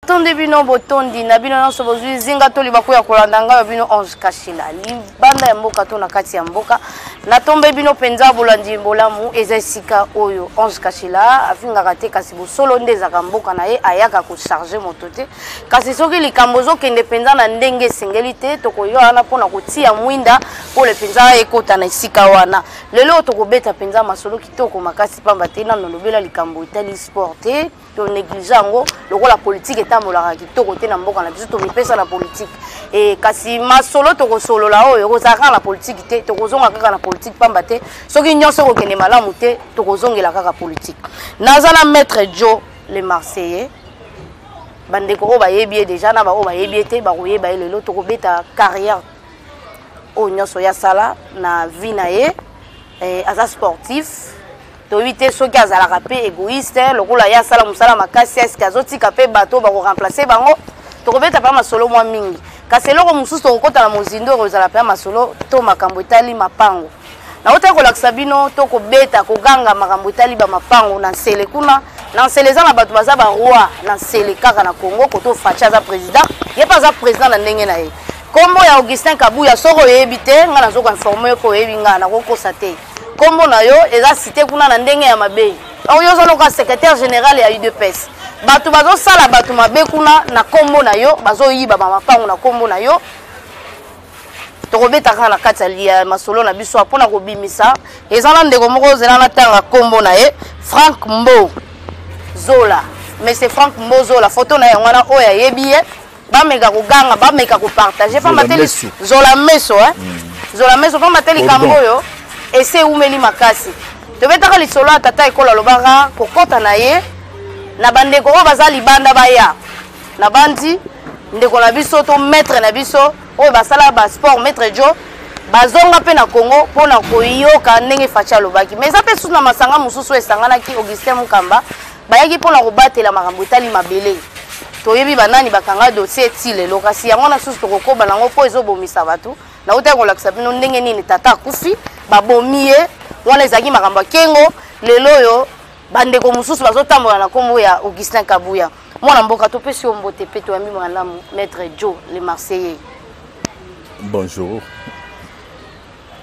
tondi bino botondi na bino nyonso bozwi zinga to libaku ya kolanda ngai ya bino ange kashila libanda ya mboka to na kati ya mboka natombe bino mpenza bolandi bolamu eza esika oyo ange kashila afingaka te kasi bosolo nde ezaka mboka na ye ayaka kocharge moto te kasi soki likambo ozokende mpenza na ndenge esengeli te tokoya wana mpo na kotia mwinda pole mpenza ekota na esika wana lelo tokobeta mpenza masolo kitoko makasi mpamba te nano lobela likambo etali sport te to néglige yango lokola politique etambolaka kitoko te na mboka na biso tomipesa na politique e, kasi masolo tokosolola oyo ekozala kaka na politiki te tokozonga kaka na politiki mpamba te soki nyonso ekokende malamu te tokozongela kaka politiki naza na maître jo le marseillais bandeko oyo bayebi ye deja na baoyo bayebi ye te bakoyeba ye lelo tokobeta carrière oyo nyonso ya sala na vie na ye eh, aza sportif toyebi te soki azalaka mpe egoïste lokola ye asala mosala makasi eske azotika mpe bato oyo bakoremplace bango tokobeta mpe masolo mwa mingi kasi eloko mosusu tokokota na mozindo ekozala mpe masolo to makambo etali mapango nautaki kolakisa bino to kobeta koganga makambo etali bamapango na nsele kuna na nsele eza na bato baza baroi na nsele kaka na congo koto faci aza président ye mpe aza président na ndenge na ye nkombo ya augustin kabuya soki oyebi te ngai nazokoinforme yo mpo oyebi ngai nakokosa te Kombo na yo eza cité kuna na ndenge ya mabe. Or yo zaloka secrétaire général ya UDPS. Bato bazosala bato mabe kuna na kombo na yo, bazoyiba ba mapango na kombo na yo. Tokobetaka na kati ya masolo na biso mpo na kobimisa. Eza na ndeko moko ozela na tanga kombo na ye, Frank Mbo Zola. Mais c'est Frank Mbo Zola, photo na ye wana oyo ayebi ye. bameka koganga bameka kopartage pamba te zola meso eh? mm. zola meso pamba te likambo oyo esi ewumeli makasi tobetaka lisolo ya tata ekolo alobaka kokɔta na ye na bandeko oyo baza libanda baya na bandi ndeko na biso to maître na biso oyo basala basport maître jo bazonga mpe na congo mpo na koyoka ndenge faci alobaki mais eza mpe susu na masanga mosusu esanganaki augustin mukamba Bayaki mpo na kobatela makambo etali mabele. Toyebi banani bakanga dossier ti lelo, kasi yango wana susu tokokoba na yango mpo ezobomisa bato. Nautaki kolakisa bino ndenge nini tata akufi, babomi ye, wana ezalaki makambo ya kengo. Lelo oyo bandeko mosusu bazotambola na nkombo ya Augustin Kabuya. Mwana mboka, topesi yo mbote mpe toyambi malamu Maître Joe le Marseillais. Bonjour.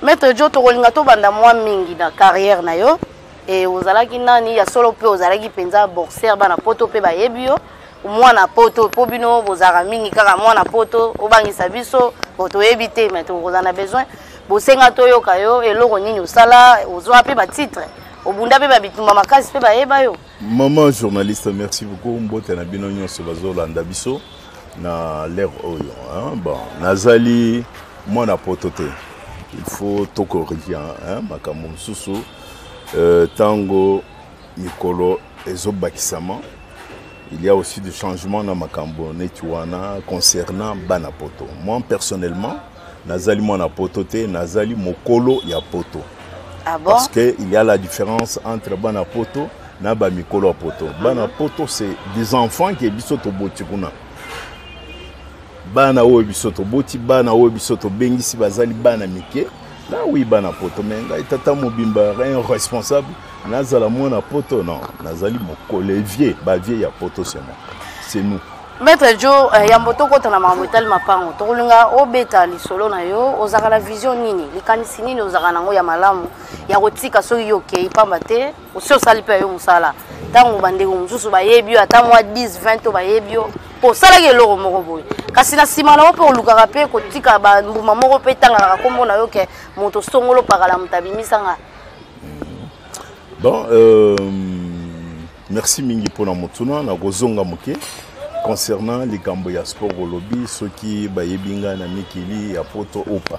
Maître Joe, tokolinga tobanda mwa mingi na carrière na yo. e ozalaki nani ya solo mpe ozalaki mpenza boxer bana poto mpe bayebi yo mwana poto mpo bino bozalaka mingi kaka mwana poto obangisa biso bo toyebi te mai tokozala na besoin bosenga toyoka yo eloko nini osala ozwa mpe batitre obunda mpe babitumba makasi mpe bayeba yo mama journaliste merci beaucoup mbote na bino nyonso bazolanda biso na lere oyo bon nazali mwana poto te il faut tokorige makambo mosusu ntango mikolo ezobakisama il y a aussi du changement na makambo neti wana concernant bana poto moi personnellement nazali mwana poto te nazali mokolo ya poto ah bon? parce que il y a la différence entre bana poto na bamikolo ya poto bana poto c'est des enfants ke biso toboti kuna bana oyo biso toboti bana oyo biso tobengisi bazali bana mike na wi bana poto me ngai tata mobimba rien responsable nazala mwana poto non nazali mokolo evie bavie ya poto sema c'est nous maître jo eh, yambo tokota na makambo etali mapango tokolinga obeta lisolo na yo ozalaka na vision nini likanisi nini ozalaka nango ya malamu ya kotika soki yo okei mpamba te osi osali mpe ya yo mosala ntango bandeko mosusu bayebi yo ata mwa 10 20 to bayebi yo mpo osalaki eloko moko boye kasi na nsima na yo mpe olukaka mpe kotika bambuma moko mpe etanganaka nkombo na yo ke moto songolo pakala moto abimisanga bon euh, merci mingi mpo na motuna nakozonga moke concernant likambo ya sport olobi soki bayebi ngai na mikili ya poto opa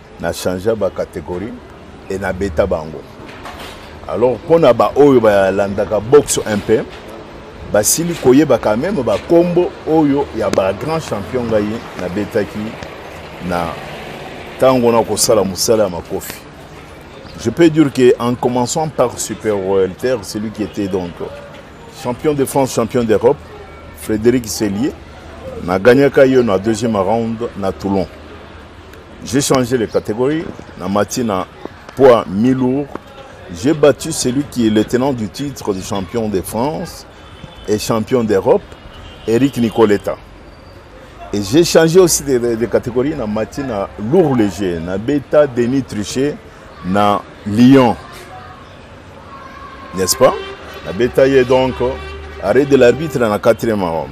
na changea ba categorie e na beta bango alors mpo na baoyo balandaka boxe un peu basili koyebaka meme bakombo oyo ya bagrand champion ngai nabetaki na ntango na kosala mosala ya makofi je peux dire que en commençant par super royalter celui qui était donc champion de france champion d'europe frédéric selier nagagnaka yo na deuxième round na toulon J'ai changé les catégories, na mati na poids mi-lourd. J'ai battu celui qui est le tenant du titre de champion de France et champion d'Europe, Eric Nicoletta. Et j'ai changé aussi de, de, de catégorie na mati na lourd léger, na beta Denis Trichet na Lyon. N'est-ce pas? Na beta ye donc arrêt de l'arbitre na quatrième round.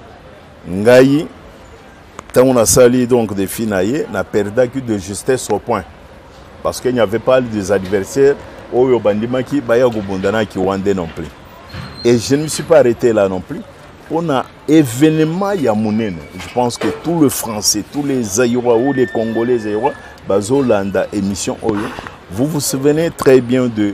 ngai ntango nasali donc defi na ye na perdaki de justesse au point parce qu'il n'y avait pas des adversaires oyo bandimaki baya kobunda na kiwande non plus et je ne me suis pas arrêté là non plus on a événement ya monene je pense que tout le français tous les zaïrois ou les congolais zaïrois bazolanda émission oyo vous vous souvenez très bien de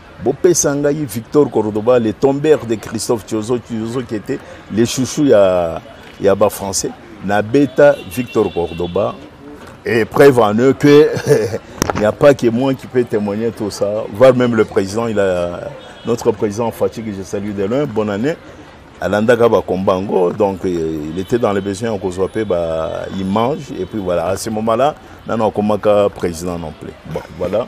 Bopesa ngai Victor Cordoba, le tombeur de Christophe Tiozo, Tiozo qui était le chouchou ya, ya ba français. Na beta Victor Cordoba. Et preuve en eux que il n'y a pas que moi qui peux témoigner tout ça. Voir même le président, il a, notre président Fatih, que je salue de loin, bonne année. alandaka bakomba yango donc il était dans les besoins ya kozwa mpe baimage et puis voilà à ce moment là nano akomaka président non plus bon voilà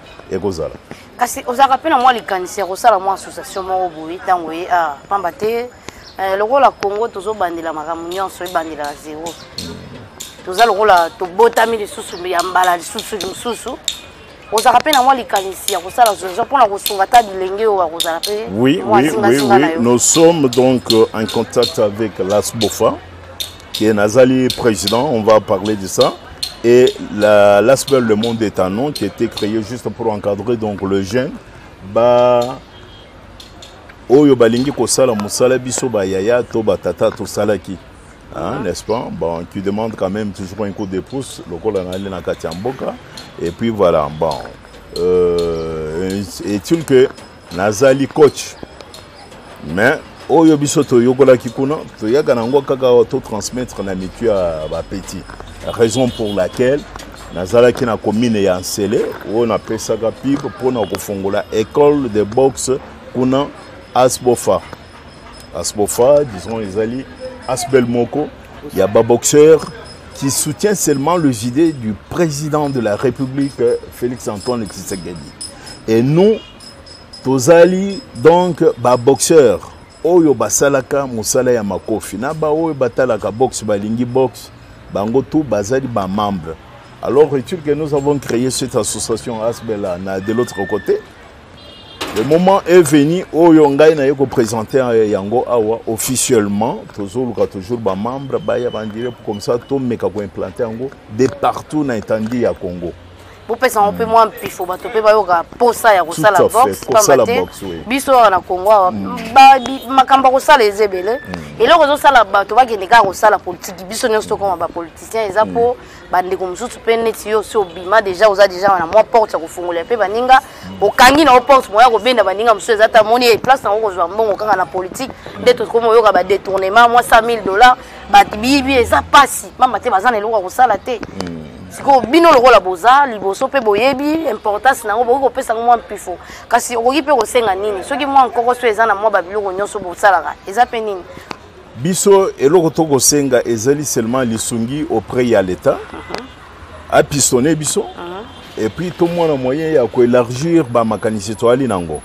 ekozala kasi ozalaka mpe na mwa likanisi ya kosala mwa association moko boye ntango ye a ah, pamba te eh, lokola congo tozobandela makambo nyonso ebandela na zero toza lokola tobotami lisusu ya mbala lisusu lisusu ozalaka mpe na mwa likanisi ya kosala zozo mpona kosunga ata bilenge oyo bakozala mpe oui, oui, oui, oui. nous sommes donc euh, en contact avec lasbofa que Nazali président, on va parler de ça. Et l'aspect Le Monde est un nom qui a été créé juste pour encadrer donc, le jeune. Bah, oyo balingi kosala mosala biso bayaya to batata tosalaki hein, n'est-ce pas bon qui demande quand même toujours un coup de pouce lokola nali na kati ya mboka et puis voilà bon euh, est-il que Nazali coach. Mais oyo biso toyokolaki kuna toyaka na yango kaka totransmettre na mitu ya bapetit raison pour laquelle nazalaki na commune ya nsele oyo napesaka pib mpona kofongola école de boxe kuna asbofa asbofa disons ezali asbel moko ya baboxeur qui soutient seulement les idées du président de la république félix antoine tshisekedi et nous tozali donc baboxeur oyo basalaka mosala ya makofi na baoyo batalaka boxe balingi boxe bango tu bazali bamembre alors retire que nous avons créé cette association asbela na de l'autre côté le moment est venu oyo ngai naye kopresente euh, yango awa officiellement tozoluka toujours bamembre baya bandire comme ça tomeka koimplante yango de partout na etandi ya congo bopesa yango mpe mwa mpifo bato mpe bayoka mposa ya kosala box pamba te biso awa na kongo awa mm. makambo ya kosala eza ebele mm. eloko ezosala bato bakende kaka kosala politiki biso nyonso tokoma bapoliticien eza mpo mm. bandeko mosusu mpe neti yo si obima deja oza deja na mwa porte ya kofungolela mpe baninga okangi na yo porte moya kobenda baninga mosusu eza ta moni place nango kozwa mbongo kaka na politiki nde tokomi oyoka badetournement mwa 100 000 dollars bato biyibi eza mpasi mama te baza na eloko ya kosala te hmm. sikoyo bino lokola boza liboso mpe boyebi importance na yango bokoki kopesa yango mwa mpifo kasi okoki mpe kosenga nini soki mwa nkoko so eza na mwa babiloko nyonso bosalaka eza mpe nini biso eloko tokosenga ezali seulement lisungi auprès ya l'état mhm. apistone biso mhm. et puis tomona moyen ya koélargir bamakanisi toyali na yango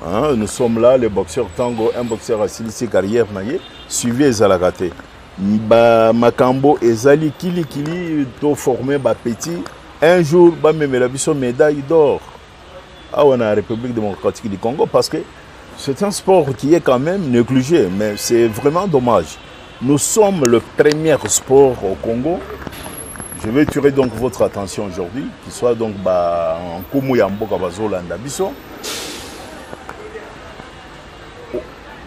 Hein, nous sommes là, le boxeur Tango, un boxeur asilisi carrière na ye, suivi ezalaka te. Ba makambo ezali kili kili to former ba petits un jour ba memela biso médaille d'or. Awa na République démocratique du Congo parce que c'est un sport qui est quand même négligé mais c'est vraiment dommage. Nous sommes le premier sport au Congo. Je vais tuer donc votre attention aujourd'hui, qui soit donc ba nkumu ya mboka bazolanda biso.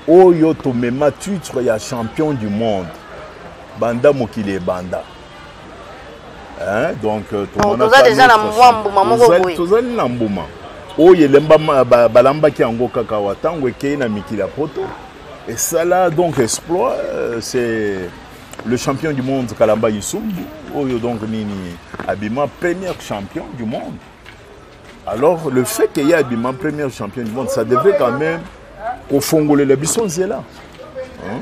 Oyo tomema titre ya champion du monde. Banda mokili ebanda. Hein? Donc euh, toza déjà na mwa mbuma moko boye. Tozali na mbuma. Oyo elemba balambaki yango kaka wa ntango ekei na mikili ya poto. Et ça là, donc, exploit, euh, c'est le champion du monde, Kalamba Yisumbu, Oyo donc Nini Abima, premier champion du monde. Alors, le fait qu'il y ait Abima, premier champion du monde, ça devrait quand même qu'au fond, les bisons là. Hein?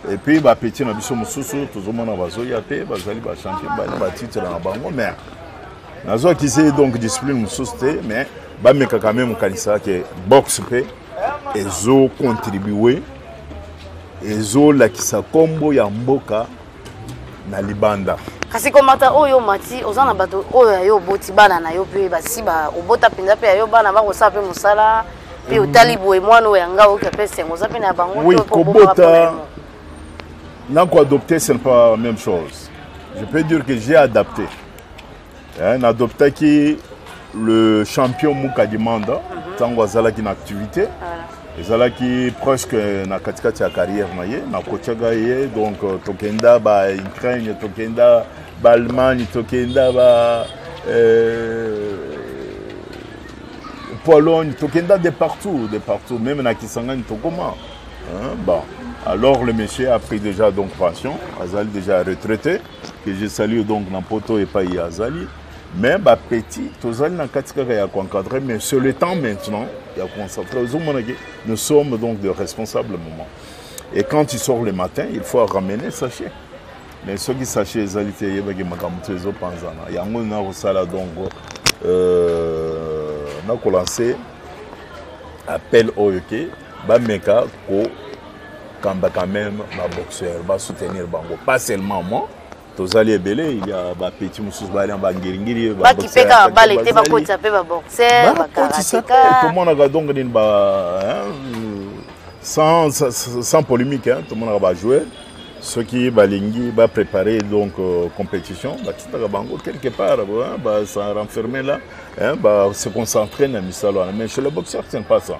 Et puis, bah, petit, na biso mususu, tout le monde a bazoya te, bazali ba champion, ba ba titre na bango, mais nazo ki c'est donc discipline mususu te, mais ba meka quand même kanisa que boxe pe ezo contribue ezolakisa nkombo ya mboka na libanda kasi komata oyo omati oza na bato oyo ya yo oboti bana na yo mpe basi ba obota mpenza mpe ya yo bana bakosala mpe mosala mpe mm. otali boye mwana oyo yanga oyoki mpe esengo oza mpe na bango oui, kobota nako adopte c'est pas même chose je peux dire que j'ai adapté eh, na adoptaki le champion muka demanda mhm. ntango azalaki na activité ah. ezalaki presque na katikati ya carrière na ye nakotyaga ye donc euh, tokenda ba ukraine tokenda baallemagne tokenda ba euh, pologne tokenda de partout de partout meme na kisangani tokoma bon alors le monsieur a pris déjà donc pension azali déjà retraité que je salue donc na poto epai azali mais bapeti tozali na kati kaka ya koencadre mais c'est le temps maintenant ya koconcentre ozomonake nous sommes donc de responsable moment et quand tu sors le matin il faut ramener sachet mais soki sachet ezali te eyebaki makambo to ezopanzana yango nakosala donc euh, nakolanse appel oyo ke bameka ko kamba quand même ba boxeur ba soutenir bango pas seulement moi tozali ebele il ya ba petit mosusu bali na bangiringiri bakipeka bale te bakotisa mpe baboxer bakotisa mpe tomonaka donc nini ba sans, sans polémique hein, tomonaka bajoueur soki balingi baprépare donc euh, compétition batindaka bango quelque part hein, ba s'en renfermer là hein, ba se concentrer na misala wana mais chez le boxeur ce n'est pas ça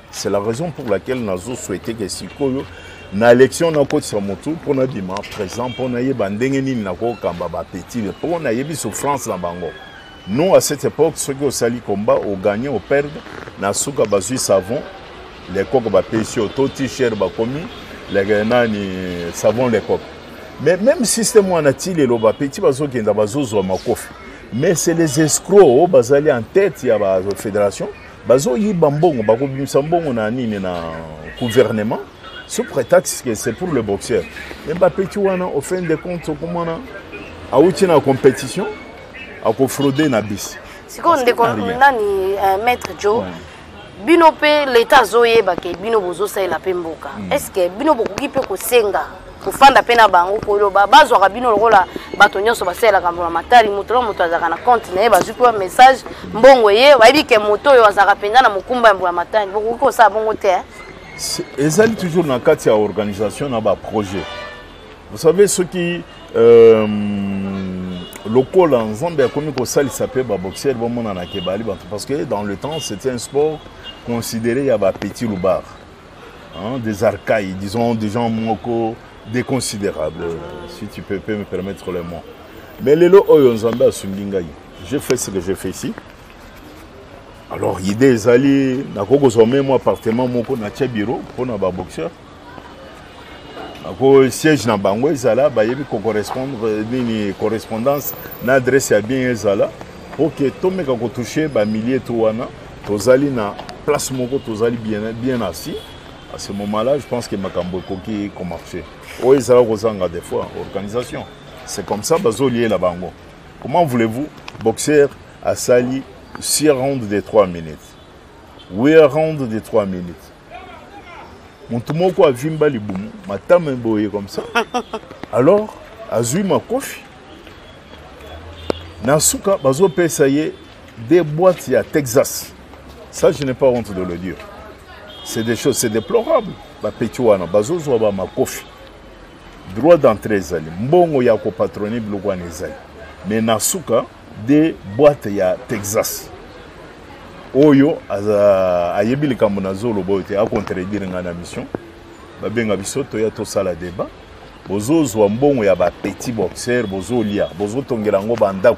C'est la raison pour laquelle nazo souhaité que sikoyo na élection nakotisa motu mpo nabima présent mpo nayeba ndenge nini nakokamba bapetile mpo nayebi souffrance na bango nous à cette époque soki osali combat ogagne operde na suka bazwi savon lekoko bapesi yo to t-shirt bakomi nani savon lekoko mais même système wana ti lelo bapeti bazokenda bazozwa makofi mais c'est les escrocs oyo bazali en tête ya bafédération Bazo yiba mbongo bako bimisa mbongo na nini na gouvernement sous prétexte que c'est pour le boxeur. Mais Mbappé tu wana au fin de compte okomona awuti na compétition ako frauder na bis. Sikoyo ndeko nani euh, maître Joe ouais. bino mpe leta azoyeba ke bino bozosalela mpe mboka mm. est ce que bino bokoki mpe kosenga kofanda mpe na bango koloba bazwaka bino lokola bato nyonso basalelaka mbula matari moto na moto azalaka na compte na ye bazwi mpe message mbongo eye bayebi ke moto oyo azalaka mpenza na mokumba ya mbula matari bokoki kosala bongo te eh? ezali toujours na kati ya organisation na baprojet vous savez soki euh, lokola nzambe akomi kosalisa mpe baboxere bamonanaka ebali bato parce que dans le temps c'était un sport considéré ya bapetit loubard Hein, des arcailles, disons des gens moko déconsidérables, si tu peux, peux me permettre le mot. Mais les lots oyo nzambe asungi ngai. J'ai fait ce que j'ai fait ici. Alors idée ezali nakoki kozwa meme mwa appartement moko natia bureau mpo na baboxeur ako siège na bango ezala bayebi kocorrespondre nini correspondance na adresse ya bien ezala oke tomeka kotouche bamillie to wana tozali na place moko tozali bien, bien assis à ce moment là je pense que makambo ekoki komarche oyo ezala kozanga des fois organisation c'est comme ça bazoliela bango comment voulez-vous boxeur asali 6 round de 3 minutes 8 round de 3 minutes motu moko avimba libumu matama eboye comme ça alors azwi makofi na suka bazopesa ye Des boîtes ya Texas. Ça, je n'ai pas honte de le dire. C'est des choses, c'est déplorable. Ba pechuana, bazozwa ba makofi. Droit d'entrée ezali. Mbongo ya ko patroni biloko wana ezali. Mais na suka, des boîtes ya Texas. Oyo, aza, ayebi likambo na zolo boyo te, a contredire nga na mission. Babenga biso, toya tosala débat. Bozozwa mbongo ya ba petits boxeurs, bozolia, bozotongela ngo bandako.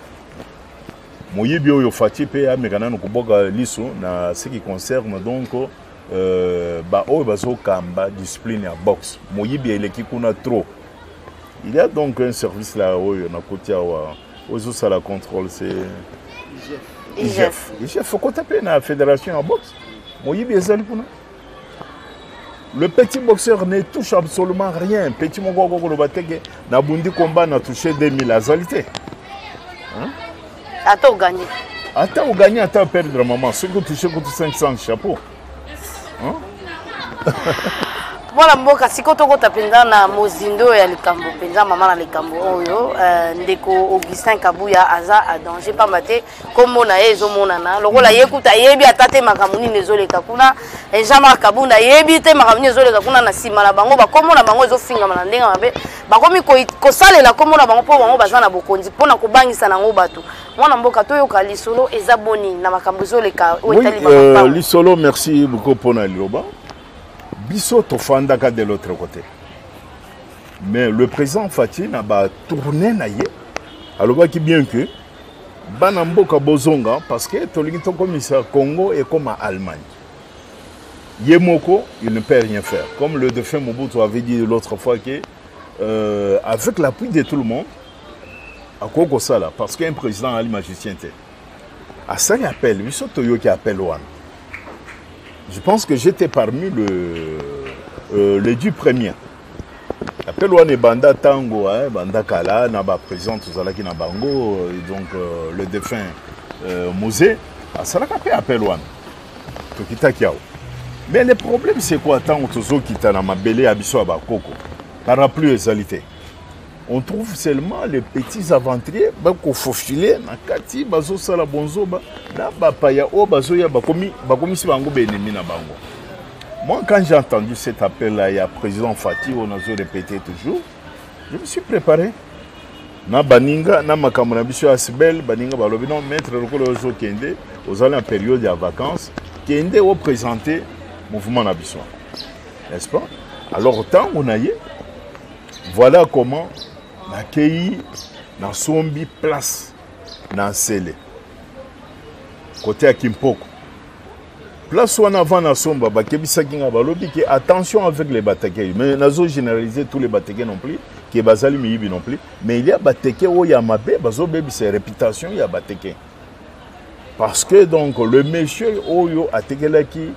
moyibi oyo faci mpe ameka nano kobwaka liso na ce qui concerne donc euh, baoyo bazokamba discipline ya boxe moyibi eleki kuna trop il y a donc un service la oyo nakoti awa oyo ezosala contrôle se igf igf okota mpe na fédération ya boxe moyibi ezali kuna Le petit boxeur ne touche absolument rien. Petit moko akoki koloba te ke nabundi combat na touche 2000 azali te. Ata oganye. Ata oganye ata perdre maman soki otouche kutu 500 chapeau. Hein? mwana mboka sikoyo tokota mpenza na mozindo oyo ya likambo mpenza mama na likambo oyo euh, ndeko augustin kabuya aza a danger mpamba te nkombo na ye ezomonana lokola ye kutu ayebi ata te makambo nini ezoleka kuna eh, jean marc kabunda ayebi te makambo nini ezoleka kuna na nsima na bango bakombo na bango ezofingama na ndenge mabe bakomi kosalela kombo na bango mpo bango baza na bokonzi mpo na kobangisa na yango bato mwana mboka toyoka lisolo eza boni na makambo ezoleka oyo etali euh, lisolo merci beaucoup mpo na liloba biso tofandaka de l'autre côté mais le président fati na batourne na ye alobaki bien que bana mboka bozonga parce que tolingi tokomisa congo ekoma allemagne ye moko il ne peut rien faire comme le défunt mobutu avait dit l'autre fois que euh, avec l'appui de tout le monde akoki kosala parce qu'un président ali magicien te asali appel biso toyoki appel wana je pense que j'étais parmi le, euh, les dix premiers appel wana ebanda ntango ebanda kala na bapresident tozalaki na bango donc euh, le défunt euh, mose asalaka mpe appel wana tokitaki awa mais le problème c'est quoi ntango tozokita na mabele ya biso ya bakoko parapluie ezali te on trouve seulement les petits aventuriers bakofofile na kati bazosala bonzoba na bapaya oyo bazoya bakomisi bango baennemi na bango moi quand j'ai entendu cet appel là ya président fati oyo nazo répéter toujours je me suis préparé na baninga na makambo na biso ya sibel baninga balobi non maître lokola ozokende ozali na période ya vacances kende oprésente mouvement na biso n'est-ce pas alors ntango na ye Voilà comment nakeyi nasombi place na nsele kote ya kimpoko place wana avant nasomba bakebisaki ngai balobi ke attention avec les batekei mais nazo généraliser tous les bateke non plus ke bazali miyibi non plus mais il y a bateke oyo ya mabe bazobebisa réputation ya bateke parce que donc le monsieur oyo atekelaki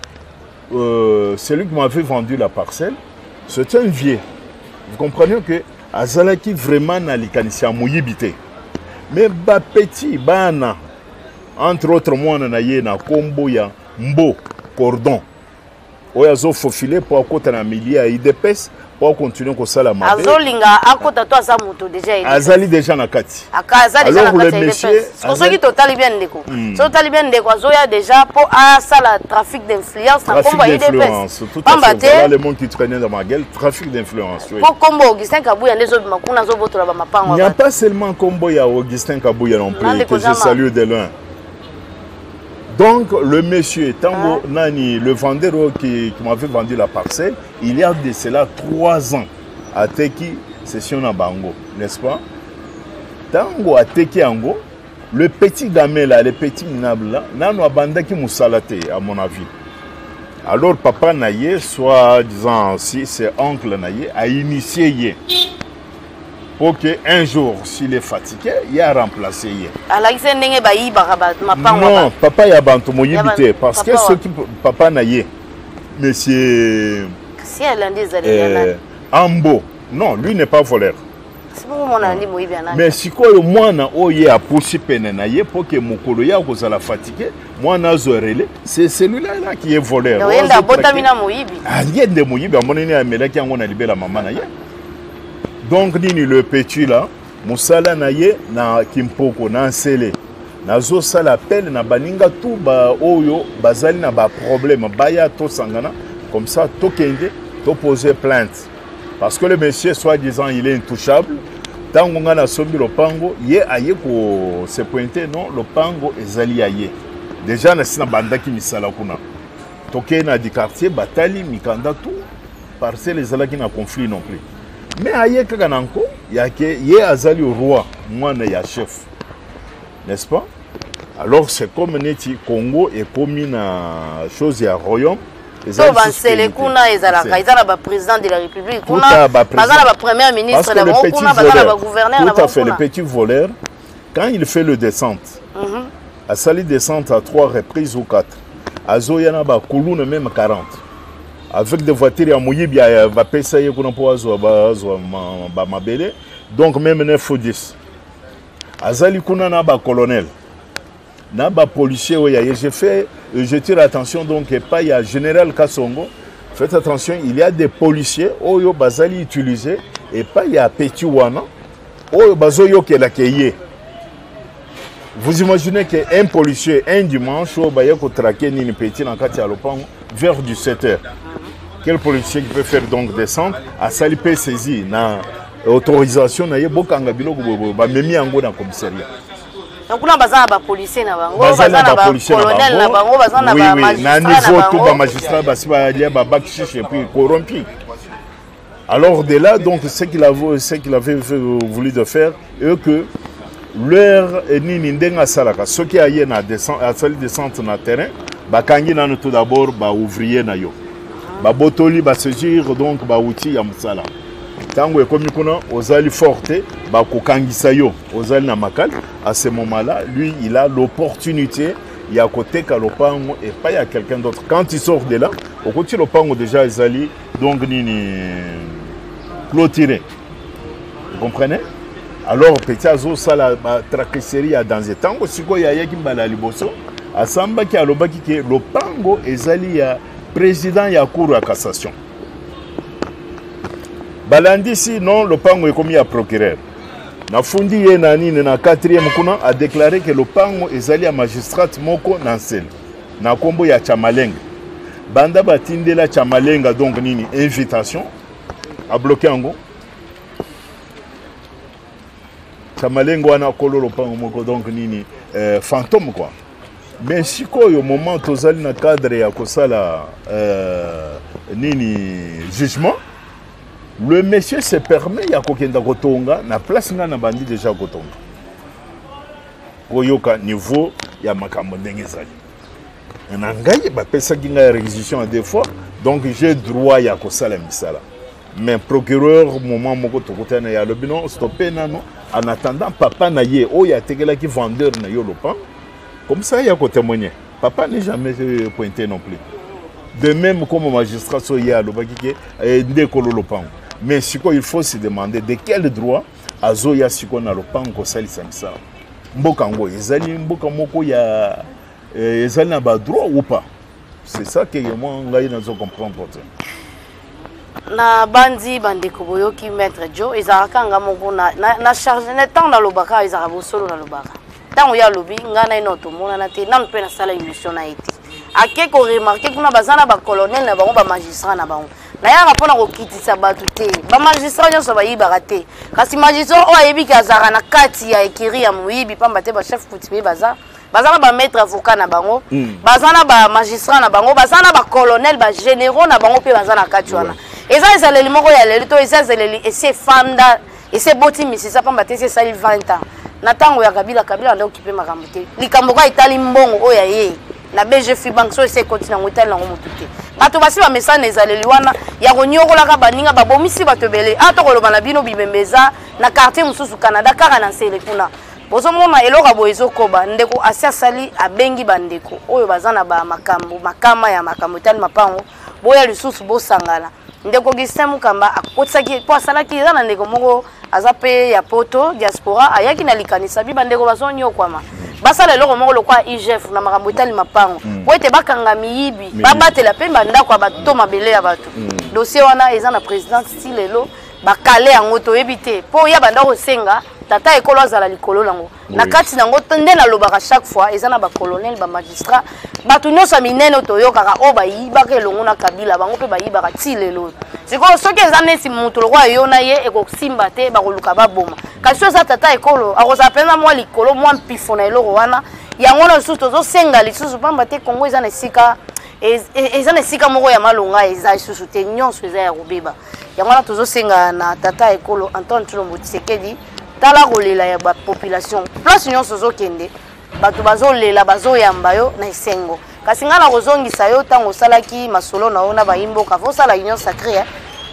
euh, celui qui m'avait vendu la parcelle c'est un vieux vous comprenez que azalaki vraiment na likanisi ya moyibi te mais bapetit bana entre autres mwana na ye na nkombo ya mbo cordon oyo azofofile mpo akota na milie ya idps po continue kosala mabe azolinga akota to aza moto deja ye azali deja na kati aza deja na kati monsieur soki totali bien ndeko hmm. soki totali bien ndeko azoya deja po asala trafic d'influence na kombo ya udps pamba te le monde qui traînait dans ma gueule trafic d'influence oui po kombo Augustin Kabuya nde zobima kuna azobotola ba mapango il n'y a pas seulement kombo ya Augustin Kabuya non plus que je salue de loin donc le monsieur tango ah. nani le vendeur qui, qui m'avait vendu la parcelle Il y a de cela trois ans ateki session na bango, n'est-ce pas? Tango ateki yango, le petit game là, le petit minable là, nano abandaki musala te à mon avis. Alors papa na ye, soit disant si c'est oncle na ye, a initié ye. pour que un jour s'il est fatigué ye aremplace ye alakisi ndenge bayibaka mapango non papa ya bantu moyibi te parce que soki papa na ye Monsieur. Si elle a dit euh, Ambo. Non, lui n'est pas voleur. me sikoyo mwana oyo ye apusi pene na ye mpo ke mokolo ye akozala fatike mwana azwa rele se celui-là là qui est voleur oh, yende abotami na moyibi ah, ye nde moyibi amoneni amelaki yango na libela mama na ye donc nini le petit là mosala na ye na kimpoko na nsele nazosala appel na baninga tu baoyo bazali na baproblème baya tosangana comme ça tokende topose plainte parce que le monsieur soit disant il est intouchable ntango ngai nasombi lopango ye aye kose pointe non lopango ezali ya ye deja nasi nabandaki misala kuna tokei na dikartier batali mikanda tu parcelle ezalaki na conflit non plus mais aye kaka na nko yake ye azali roi mwana ya chef n'est-ce pas alors c'est comme neti congo ekomi na chose ya royaume to bansele kuna ezalaka eza na baprésident de la république kuna baza na bapremière ministre na bango kuna baza na bagouverneur na bango kuna le petit voleur quand il fait le descente mm -hmm. asali descente à trois reprises ou quatre azoya na bakuluna meme 40 avec des voitures ya moyibi bapesa ye kuna mpo azwa bazwa bamabele donc meme ne fodis azali kuna na bacolonel na bapolicier oyo ya ye je fais je tire attention donc epai ya général kasongo faites attention il y a des policiers oyo bazali utiliser epai ya petit wana oyo bazoyokelaka ye Vous imaginez que un policier un dimanche oyo baye kotrake nini petit na kati ya lopango vers 17 heures quel policier qui peut faire donc descendre asali mpe saisi na autorisation na ye bokanga biloko boye bamemi yango na commissariat kuna baza na bapolicier na bango baza na bacolonel na bango baza na bamagistrat na bango na niveau tout bamagistrat basi balia babakishishe epuis corrompi Alors de là, donc, ce qu'il avait, ce qu'il avait voulu de faire, et que l'heure est ni n'indenga salaka. Ce qui a eu na descente, a salle descente na terrain, bah kangi na tout d'abord bah ouvrier na yo, bah botoli bah saisir donc bah outil ya musala. Tango et comme kuna ozali forte, bah kokangi sayo, ozali na makal. À ce moment-là, lui, il a l'opportunité ya koteka lopango et pas ya quelqu'un d'autre. Quand il sort de là, au côté lopango déjà ezali donc nini clôturé vous comprenez alors petit azosala batraqueserie ya danse ntango sikoyo ayaki mbala ya liboso asambaki alobaki ke lopango ezali ya président ya cour ya cassation balandisi non lopango ekomi ya procureur nafundi ye na nini na 4e kuna adeklare ke lopango ezali ya magistrate moko na nsele na kombo ya Chamalenga banda batindela Chamalenga donc nini invitation a bloquer yango Chamalenga wana kolo lopango moko donc nini euh, fantôme quoi mais sikoyo moment tozali na cadre ya kosala euh, nini jugement le monsieur se permet ya kokenda kotonga na place ngai na bandi deja kotonga koyoka niveau ya makambo ndenge ezali na ngai bapesaki ngai réquisition ya deux fois donc j'ai droit ya kosala misala mais procureur moment moko tokutana ye alobi no stoppe nano en attendant papa na ye oyo atekelaki vendeur na yo lopango comme ça ya kotémoigne papa n'est jamais euh, pointé non plus de même comme magistrat so ye alobaki ke eh, nde ekolo lopango mais sikoyo il faut se demander de quel droit azoya sikoyo na lopango kosalisa misala mboka yango ezali mboka moko ya eh, ezali na badroit ou pas c'est ça que moi ngai nazo comprendre te na bandi bandeko boyoki maître jo ezalaka nga moko na, na, na charge na ntango nalobaka ezalaka bosolo nalobaka ntango ye alobi ngai na ye nao tomonana te nanu mpe nasala émission na ye te ake koremarke kuna baza na bacolonel na bango bamagistrat na bango nayaka mpo na kokitisa bato te bamagistrat nyonso bayibaka te kasi magistrat oyo ayebi ke azalaka na kati ya ekiri ya moyibi mpamba te bachef coutumier baza baza na bamaître avocat na bango hmm. baza na bamagistrat na bango baza na bacolonel bagénéraux na bango mpe baza na kati wana eza ezaleli moko ya lelo to eza ezaleli esi efanda ouais. esi eboti misisa mpamba te esi esali 20 ans na ntango ya kabila kabila anda okipe makambo te likambo kaka etali mbongo oyo aye na bg free bank so esi ekoti nango etali nango motu te bato basi bamesana na ezaleli wana ya konyokolaka baninga babomisi bato ebele a ah, tokoloba na bino bibembe eza na quartier mosusu canada kaka na nsele kuna bozomona eloko ya boye ezokoba ndeko asi asali abengi bandeko oyo baza na bamakambo makama ya makambo etali mapango boya lisusu bosangana ndeko Augustin Mukamba akotisaki mpo asalaki eza na ndeko moko aza mpe ya poto diaspora ayaki na likanisa bi bandeko bazonyokwama basala eloko moko lokola igf na makambo etali mapango mm. mpo ete bakanga miyibi babatela mpe bandako ya bato to mabele ya bato mm. dossier wana eza na présidente ti lelo bakale yango toyebi te mpo ya bandako osenga tata ekolo azala likolo nango na kati na yango nde nalobaka chaque fois eza na bacolonel bamagistrat bato nyonso ya minene oyo toyokaka oyo bayibaka elongo na kabila bango mpe bayibaka ti lelo oyo sikoyo soki eza neti moto lokola yo na ye ekosimba te bakoluka baboma kasi oyo eza tata ekolo akozala mpenza mwa likolo mwa mpifo na eloko wana yango wana lisusu tozosenga lisusu mpamba te kongo eza na esika eza na esika moko ya malonga eza lisusu te nyonso eza ya kobeba yango wana tozosenga na tata ekolo antoine tshilombo tshisekedi tala kolela ya bapopulation place nyonso ozokende bato bazolela bazoyamba yo na esengo kasi ngai nakozongisa yo ntango osalaki masolo na yo na bayimboka fo osala union sacré eh?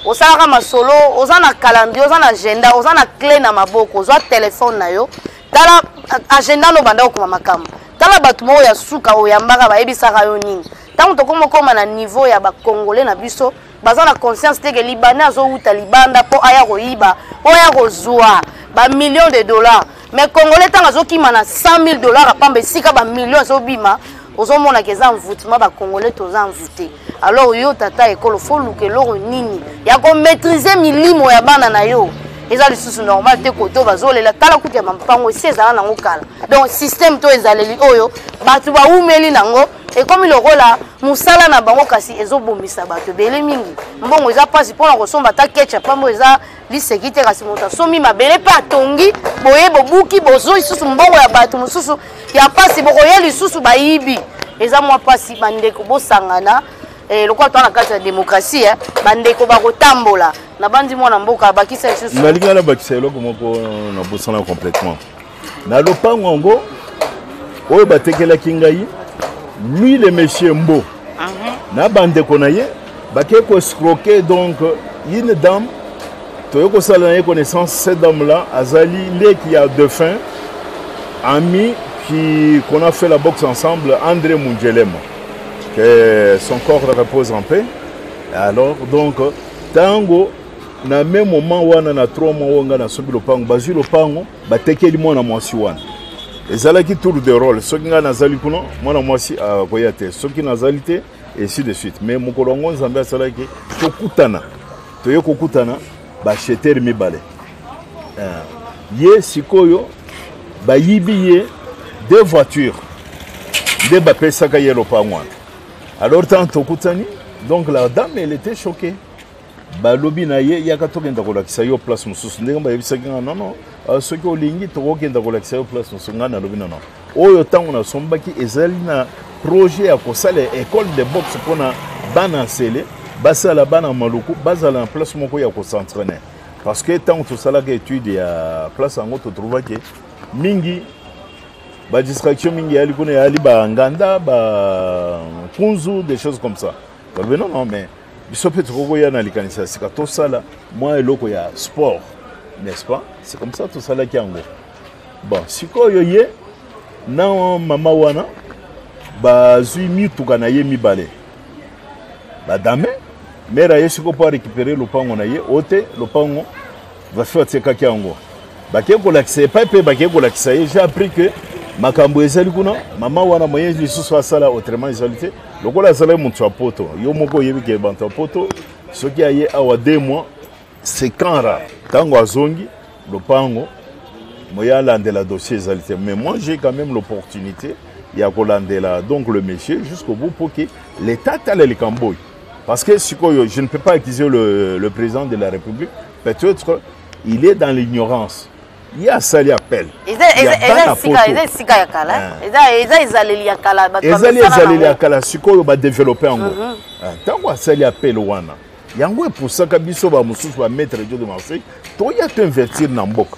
osalaka masolo oza na calendrier oza na agenda oza na cle na maboko ozwa telefone na yo tala agenda no banda okoma makambo tala bato moko ya suka oyambaka bayebisaka yo nini ntango tokoma okoma na niveau ya bacongolais na biso baza na conscience te ke libanais azowuta libanda mpo aya koyiba mpo aya kozwa bamillion de dollars mais congolais ntango azokima na 100 000 dollars apamba esika bamillion ezobima ozomonaka eza envoutement bacongolais toza envoute alors yo tata ekolo fo luka eloko nini ya komaîtrise milimo ya bana na yo eza lisusu normal te koto bazolela tala kutu ya mampango esi ezala nango kala donc système to ezaleli oyo bato baumeli nango ekomi lokola mosala na bango kasi ezobomisa bato ebele mingi mbongo eza mpasi mpona kosomba ata kecha mpambo eza liseki te kasi moto asombi mabele mpe atongi boye bobuki bozwi lisusu mbongo ya bato mosusu ya mpasi bokoya lisusu bayibi eza mwa mpasi bandeko bosangana eh, lokola toa na kati ya demokrasi eh, bandeko bakotambola nabandi mwana mboka abakisa lisusu nalingi nabakisa eloko moko nabosana complètement na lopango yango oyo batekelaki ngai lui le monsieur mbo uh -huh. na bandeko na ye bakei koescroke donc une dame toyei kosala na ye connaissance cette dame là azali leki ya defunt ami qui qu'on a fait la boxe ensemble andré munjelema que son corps repose en paix alors donc ntango na même moment wana na trois mois oyo ngai nasobi lopango bazwi lopango batekeli mwana mwasi wana ezalaki tour de role soki ngai nazali kuna mwana mwasi akoya te soki nazali te ainsi de suite mais mokolo yango nzambe asalaki tokutana toye kokutana bashetere mibale euh, ye sikoyo bayibi ye deux voitures nde bapesaka ye lopango wana alors ntango tokutani donc la dame elle était choquée balobi na ye yaka tokenda kolakisa yo place mosusu ndenge bayebisaki nga nono euh, soki olingi tokokenda kolakisa yo place mosusu ngai nalobi nono oyo ntango nasombaki ezali na projet ya kosala école de boxe mpona bana nsele basala bana maluku bazala na place moko ya kosentraine parce que ntango tosalaka étude ya place yango totrouvaki mingi badistraction mingi eyali kuna eyali banganda bakunzu des choses comme ça balobi non non mais biso mpe tokoki koya na likanisi ya sika tosala mwa eloko ya sport n'est-ce pas c'est comme ça tosalaki yango bon sikoyo ye na mama wana bazwi mituka na ye mibale badame mere aye sikoyo mpo arécupere lopango na ye o te lopango Graphie atekaki yango bakei kolakisa ye epai mpe bakei kolakisa ye j'ai appris que makambo ezali kuna mama wana moye lisusu asala autrement ezali te lokola azalaki moto ya poto yo moko oyebi ke bato ya poto soki aye awa deux mois sekanra ntango azongi lopango moye alandela dossier ezali te mais moi j'ai quand même l'opportunité ya kolandela donc le monsieur jusqu'au bout mpo ke leta atala likambo oyo Parce que sikoyo, je ne peux pas accuser le, le président de la République. Peut-être il est dans l'ignorance. ye asali appel ezali ezaleli ya kala sikoyo badeveloppe yango mhm. ah, ntango asali appel wana yango epusaka biso bamosusu bametre dio de marseille toya toinvertir na mboka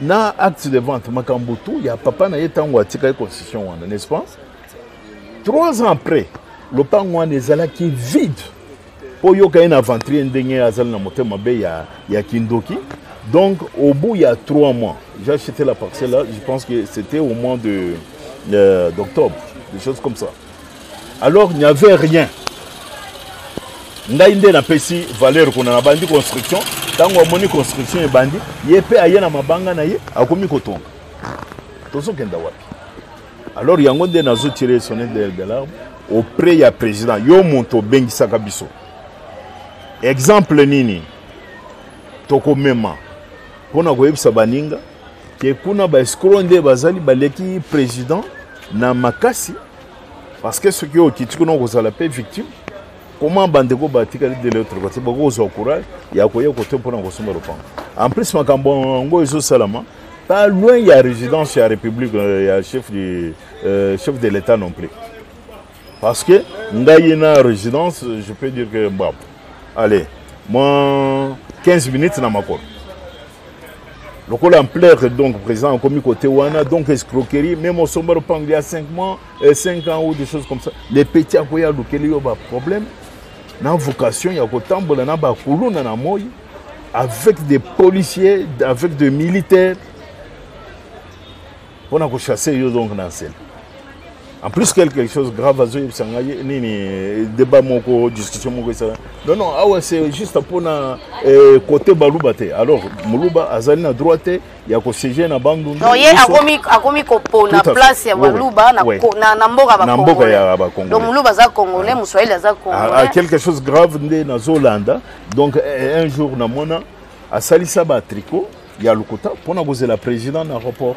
na acte de vente makambo tu ya papa na ye ntango atikaki constitution wana n'est-ce pas trois ans après lopango wana ezalaki vide mpo oyoka ye na aventurier ndenge azali na motema mabe ya, ya kindoki donc au bout ya trois mois j'ai acheté la parcelle là je pense que c'était au mois de euh, d'octobre des choses comme ça alors il n'y avait rien ngai nde napesi valeur kuna nabandi construction ntango amoni construction ebandi ye mpe aye na mabanga na ye akomi kotonga tozokenda wapi alors yango nde nazotire sonne de larme auprès ya président yo moto obengisaka biso exemple nini tokomema mpo na koyebisa baninga ke kuna ba escro nde bazali baleki président na makasi parce que soki okiti kuna okozala mpe victime comment bandeko batikali de l'autre côté bakozwa courage ya koya kote mpona kosomba lopango en plus makambo yango ezosalama pas loin ya résidence ya république euh, ya chef, du, euh, chef de l'état non plus Parce que ngai na résidence, je peux dire que bon, allez, moi 15 minutes na makolo. lokola ampleur donc président akomi côté wana donc escroquerie même osomba lopango ya 5 mois 5 euh, ans ou des choses comme ça le petit akoya alukeli yo baproblème na vocation ya kotambola na bakuluna na moi avec des policiers avec des militaires Pour na ko chasser yo donc na nsela. En plus quelque chose grave azo yebisa ngai nini débat moko discussion moko ça. Non non awa c'est juste pour na eh, côté baluba te. Alors muluba azali na droite il y a ko siéger na bandu. Non ye akomi akomi ko pona place ya baluba na oui. na, na mboka ba Na mboka ya ba Congolais. Donc muluba za congolais, ah. muswahili za ah, ah, congolais. Ah, quelque chose grave nde na Zolanda. Donc eh, un jour na mona asalisa ba tricot ya lokuta mpo na kozela président na aéroport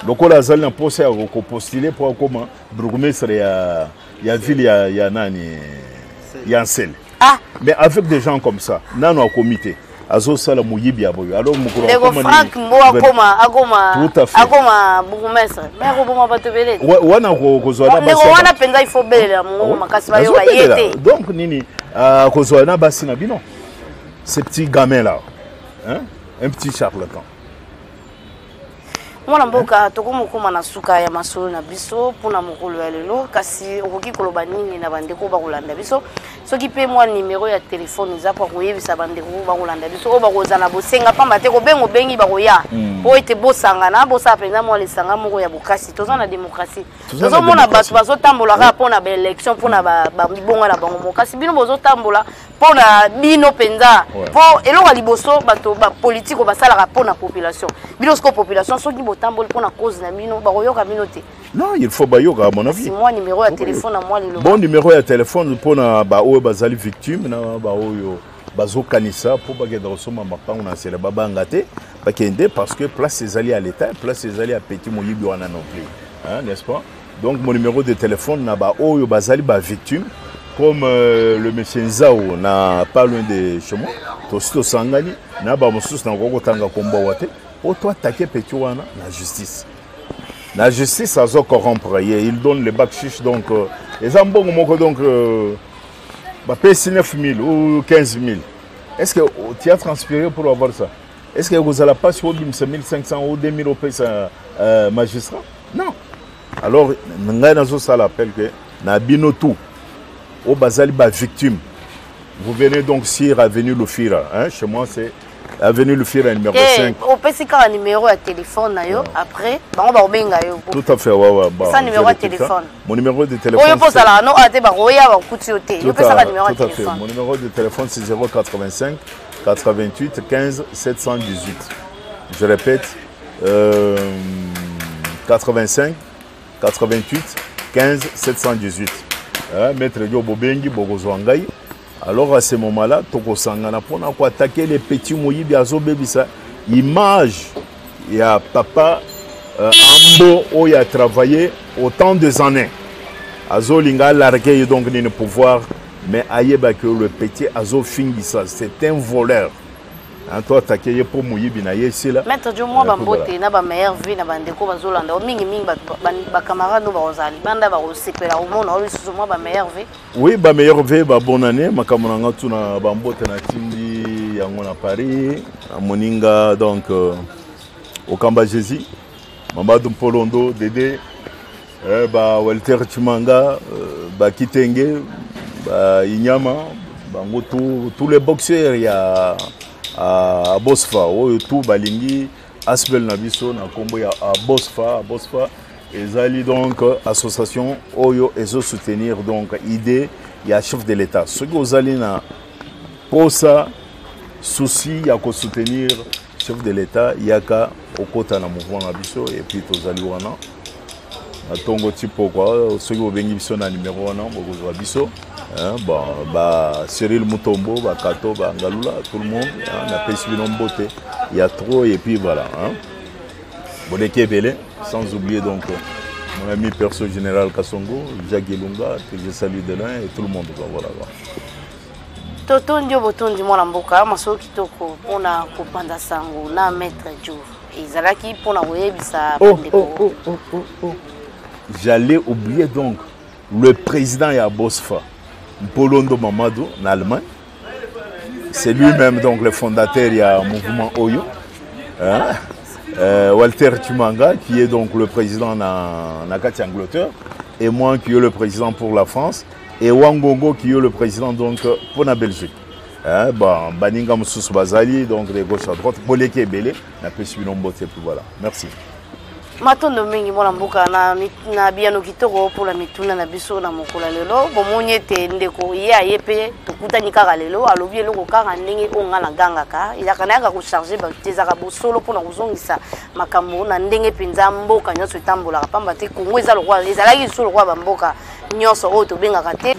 lokola azali na mposa ya kopostule mpo akoma bourgmestre ya, ya ville ya, ya nani ya nsele ah. mais avec des gens comme ça nano akomi te azosala moyibi ya boyo alors mokolo frank ngo akoma akoma akoma bourgmestre me akoboma bato ebele wana kozwa na basi wana mpenza ifo belela mongongo ah makasi bayoka ye te donc nini ah, kozwa na basi na bino ce petit gamin là Hein? Un petit charlatan. mwana mboka tokomokoma na suka ya masolo na biso mpona mokolo ya lelo kasi okoki koloba nini na bandeko bakolanda biso soki mpe mwa nimero ya telefone eza mpo akoyebisa bandeko bakolanda biso oyo bakozala na bosenga mpamba te kobenga obengi bakoya hmm. mpo ete bosangana bosala mpenza mwa lisanga moko ya bokasi toza na démocratie tozomona bato bazotambola kaka mpo na baélection mpo na bamibonga na bango moko kasi bino bozotambola mpo na bino mpenza mpo ouais. eloko ya liboso bato bapolitike oyo basalaka mpo na population bino sikoyo population soki botamboli mpo na cause na bino bakoyoka bino te non il faut bayoka à mon avis moi numéro ya telefone na moi lelo bon numéro ya telefone mpo na baoyo bazali victime na baoyo bazokanisa mpo bakenda kosomba mapango na nsela babanga te bakende parce que place ezali ya l'état place ezali ya petit moyibi wana non plus n'est-ce pas Donc mon numéro de téléphone na ba oyo bazali ba victime comme euh, le monsieur Nzao na pas loin de chez moi tosi tosangani na ba mosusu na koko tanga kombo wa te po to attaquer petit wana na justice na justice azo corrompre ye il donne le bac chiche donc euh, eza mbongo moko donc euh, bapesi 9000 ou 15000 est ce que oh, tu as transpiré pour avoir ça est ce que ekozala mpasi obimisa 1500 ou 2000 opesa euh, magistrat non alors ngai nazosala appel ke na bino tout oyo bazali bavictime vous venez donc sur avenue lofira hein? chez moi c'est avenue lofira numéro 5 opesi kaka numéro ya téléphone na yo après bango bakobenga yo tout à fait wawaesa numéro ya téléphone mon numéro de téléphone oyo mpo ozalaka no ate bakoya bakuti yo te yo pesaka numéro ya téléphone mon numéro de téléphone c'est 085 88 15 718 je répète 85 88 15 718 eh, maître dio bobengi bokozwa ngai alors à ce moment là tokosangana mpona koatake le petit moyibi azobebisa image ya papa euh, ambo oyo atravaille autant des années azolinga alarge ye donc nini pouvoir mais ayebaki le petit azofingisa c'est un voleur Hein, to atake ye mpo moyibi na ye esila maître jo mwa bambote na bameilleur vie na bandeko bazolanda mingi mingi bacamarade oyo bakozala libanda bakosepela komona oyo lisusu mwa bameilleur vie oui bameilleur vie babon année makambo na nga tu na bambote natindi yango na paris na moninga donc euh, okamba jésus mambadu mpolondo dede Eh, ba Walter Chimanga, euh, ba Kitenge, ba Inyama, bango tout, tous les boxeurs ya à Bosfa, oyo tout balingi Asbel na biso na kombo ya Bosfa, Bosfa ezali donc association oyo ezo soutenir donc idée ya chef de l'État. Soki ozali na posa souci ya ko soutenir Chef de l'Etat yaka okota na mouvement na biso et puis tozali wana na tongo ti pokwa soki obengi biso na numero wana bokozwa biso hein, bon ba Cyril Mutombo ba Kato ba Ngalula tout le monde hein, na pesi bino mbote ya trop et puis voilà hein. Boleki ebele sans oublier donc mon ami perso général Kasongo, Jacques Ilunga, que je salue de loin et tout le monde quoi, voilà. Quoi. totondi yo botondi mwana mboka masolo kitoko mpona kopanza sango na maître jo ezalaki mpona koyebisa oh, bandeko oh, oh, j'allais oublier donc le président ya bosfa mpolondo mamado na allemagne c'est lui-même donc le fondateur ya mouvement oyo hein? euh, walter tumanga qui est donc le président na, na kati angleterre et moi qui est le président pour la france Et Wangongo qui est le président donc pour la Belgique. Hein, bon, Baninga Moussous Bazali, donc de gauche à droite, Boleke et Belé, la pêche Bilombote, et puis voilà. Merci. matondo mingi mwana mboka na, na biyano kitoko mpona mituna na biso na mokolo ya lelo bomoni ete ndeko ye aye mpe tokutani kaka lelo alobi eloko kaka ndenge oyo ngai nagangaka elaka nayaka kocharge bato te ezaka bosolo mpona kozongisa makambo na ndenge mpenza mboka nyonso etambolaka mpamba te kongo eza lokola ezalaki lisusu lokola bamboka nyonso oyo tobengaka te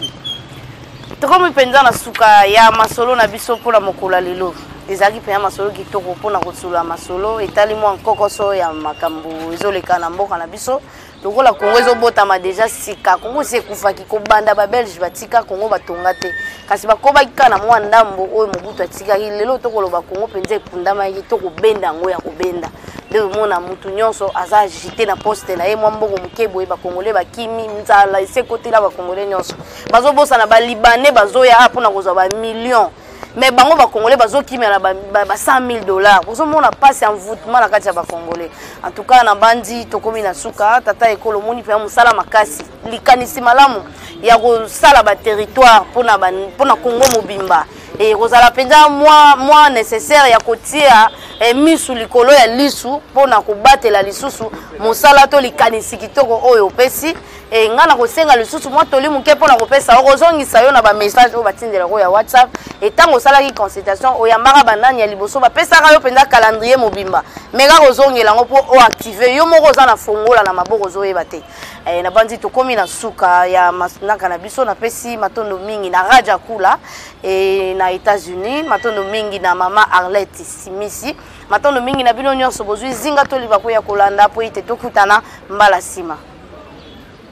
tokomi mpenza na suka ya masolo na biso mpo na mokolo ya lelo ezalaki mpenza masolo kitoko mpo na kosolola masolo etali mwa nkokoso ya makambo ezoleka na mboka na biso lokola kongo ezobotama deja sika kongo esi ekufaki kobanda babelge batika kongo batonga te kasi bakobaki kaka na mwa ndambo oyo mobutu atikaki lelo tokoloba kongo mpenza ekundamaki to kobenda yango ya kobenda nde omona mutu nyonso aza agite na poste na ye mwa mbongo moke boye bakongole bakimi nzala esi ekotela bakongole nyonso bazobosana balibane bazoya a mpona kozwa bamillion mais bango bakongole bazokimela na ba 100 000 dollars bozomona mpasi ya envoutement na kati ya bakongole en tout cas nabandi tokomi na suka tata ekolo omoni mpenza mosala makasi likanisi malamu ya kosala baterritoire mpona congo mobimba ekozala mpenza mwa, mwa necessaire ya kotia eh, misu likolo ya lisu mpo na kobatela lisusu mosala to likanisi kitoko oyo opesi e, ngai nakosenga lisusu mwa toli moke mpo na kopesa yo kozongisa yo na bamessage oyo batindelaka ya whatsapp e ntango osalaki consultation oyambaka banani ya liboso bapesaka yo mpenza calendrier mobimba meka kozongela yango mpo oactive yo moko oza na fongola na maboko ozoyeba te Eh, nabanzi tokomi na suka ya masnaka na biso napesi matondo mingi na raja kula eh, na états-unis matondo mingi na mama arlette simisi matondo mingi na bino nyonso bozwi zinga toliba koya kolanda mpo ete tokutana mbala nsima